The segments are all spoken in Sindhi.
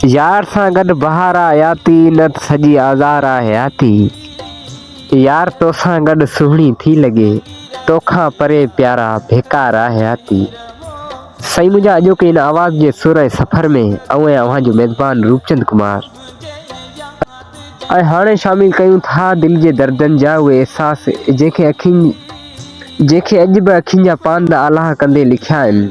يار سان گڏ بهار آ حياتي نه ته سڄي آزار آ حياتي يار توسان گڏ سهڻي ٿي لڳي توکان پري پيارا بيڪار آ حياتي سائين منهنجا اڄوڪي ان آواز جي سر ۽ سفر ۾ آئون آهيان اوهان جو ميزبان روپچند ڪمار ۽ هاڻي شامل ڪيون ٿا دل جي دردن جا اهي احساس جنهن کي اکين جنهن کي اڄ به اکين جا پاندا آلاهه ڪندي لکيا آهن.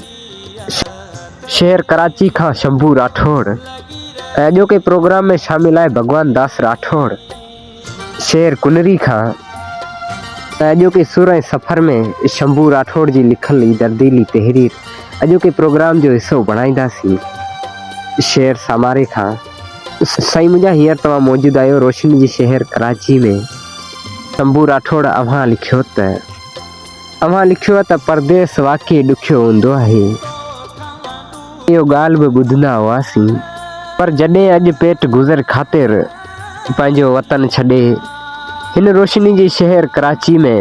شهر ڪراچي کان شنڀو راٺوڙ ۽ اڄوڪي پروگرام ۾ شامل آهي ڀڳوان داس راٺوڙ شهر ڪنري کان ۽ اڄوڪي سر ۽ سفر ۾ شنڀو راٺوڙ جي لکل هي درديلي تحرير اڄوڪي پروگرام جو حصو بڻائينداسين شهر ساماري کان سائين منهنجا هينئر توهان موجود آهيو روشني جي شهر ڪراچي ۾ شنڀو راٺوڙ اوهان لکيو ته. اوهان لکيو ته پرديس واقعي ڏکيو هوندو آهي. اهو ڳالهه به ٻڌندا هئاسين. پر جڏهن اڄ پيٽ گذر خاطر پنهنجو وطن ڇڏي هن روشني جي شهر ڪراچي ۾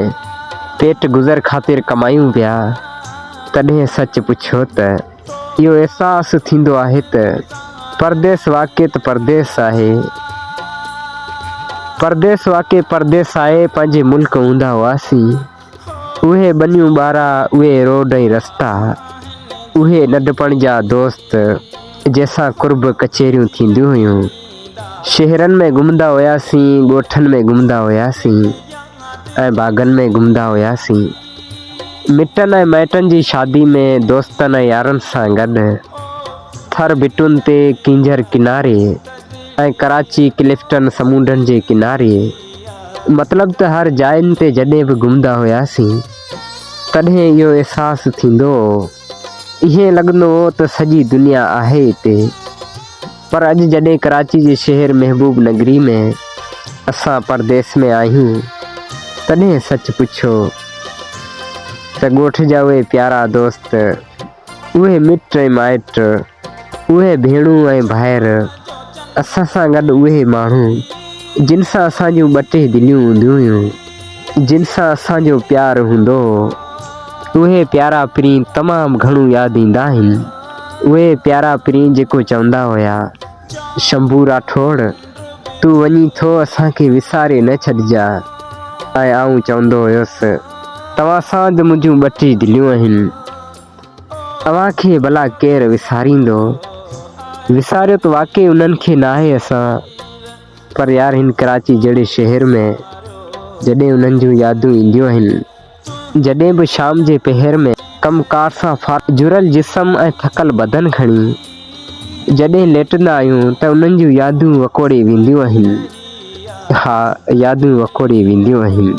پيٽ گذر خاطر ڪمايون پيا تڏهن سچ پڇيو ته. اهو احساس ٿيندو آهي ته پرديس واقعي ته پرديس آهي. پرديس واقعي پرديس آهي، پنهنجي ملڪ هوندا هئاسين. اهي ٻنيون ٻارا، اهي روڊ ۽ رستا، اهي ننڍپڻ جا دوست جنهن سان قرب ڪچهريون ٿينديون هيون. شهرن ۾ گهمندا هياسين، ڳوٺن ۾ گهمندا هياسين ۽ باغن ۾ گهمندا هياسين. مٽن ۽ مائٽن جي شادي ۾ دوستن ۽ يارن سان گڏ ٿر ڀٽن تي ڪينجهر ڪناري ۽ ڪراچي ڪلفٽن سمونڊن جي ڪناري مطلب ته هر جاين تي جڏهن به گهمندا هياسين تڏهن اهو احساس ٿيندو هو ائين لڳندو هو ته سڄي دنيا آهي اتي. پر اڄ جڏهن ڪراچي جي شهر محبوب نگري ۾ اسان پرديس ۾ آهيون تڏهن سچ پڇو ته ڳوٺ جا اهي پيارا دوست، اهي مٽ ۽ مائٽ، اهي ڀيڻون ۽ ڀائر، اسان سان گڏ اهي ماڻهو جن سان اسان جون ٻه ٽي دليون هونديون هيون، جن سان اسان جو پيار هوندو هو، اهي پيارا پرين تمام گهڻو ياد ايندا آهن. اهي پيارا پرين جيڪو چوندا هيا، شنڀو راٺوڙ، تون وڃين ٿو اسان کي وساري نه ڇڏجاء ۽ آئون چوندو هيس، توهان سان ته منهنجون ٻه ٽي دليون آهن، اوهان کي ڀلا ڪير وساريندو؟ وساريو ته واقعي انهن کي ناهي اسان. پر يار هن ڪراچي جهڙي شهر ۾ جڏهن انهن جون يادون اينديون آهن جڏهن به شام جي پهر ۾ ڪم ڪار سان فارغ جرل جسم ۽ ٿڪل بدن کڻي جڏهن ليٽندا آهيون ته انهن جون يادون وڪوڙي وينديون آهن ها يادون وڪوڙي وينديون آهن.